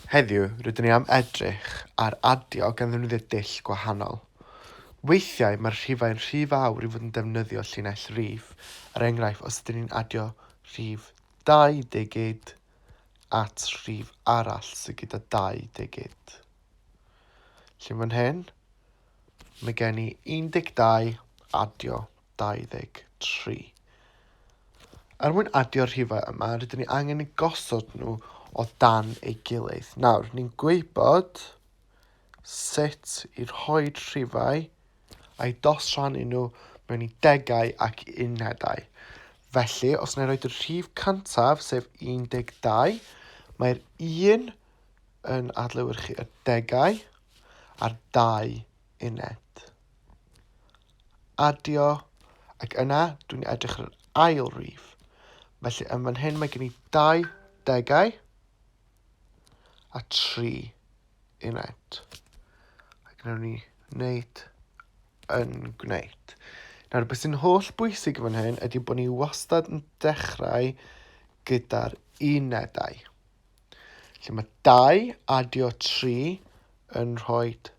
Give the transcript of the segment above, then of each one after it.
Heddiw, rydyn ni am edrych ar adio gan ddefnyddio dull gwahanol. Weithiau, mae'r rhifau'n rhy fawr i fod yn defnyddio llinell rif, er enghraifft, os ydyn ni'n adio rhif 20 at rhif arall sydd gyda 20. Felly fan hyn, mae gen i 12 adio 2023. Er mwyn adio'r rhifau yma, rydyn ni angen eu gosod nhw o dan ei gilydd. Nawr, ni'n gwybod sut i rhoi rhifau a'i dosrannu nhw mewn i degau ac unedau. Felly, os na i roed y rhif cyntaf, sef 12, mae'r 1 yn adlewyrchu y degau a'r 2 uned. Adio, ac yna dwi'n edrych ar yr ail rif. Felly yn fan hyn mae gen i dau degau a tri uned. Ac yna ni wneud yn gwneud. Nawr, beth sy'n holl bwysig fan hyn ydy bod ni wastad yn dechrau gyda'r unedau. Felly mae 2 adio 3 yn rhoi 4.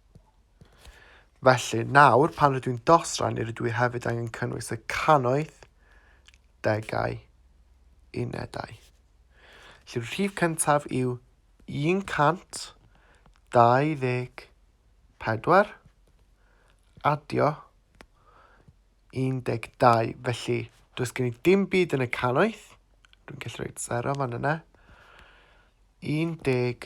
Felly, nawr, pan rydw i'n dosran, ni rydw i hefyd angen cynnwys y cannoedd, degau, unedau. Felly, rhif cyntaf yw 124, adio 12. Felly, does gen i dim byd yn y cannoedd. Dwi'n gallu rhoi sero fan yna. 12.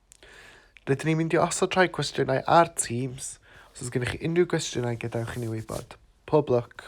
Rydyn ni'n mynd i osod rhai cwestiynau ar Teams, os oes gennych chi unrhyw gwestiynau gadewch i ni wybod. Pob lwc!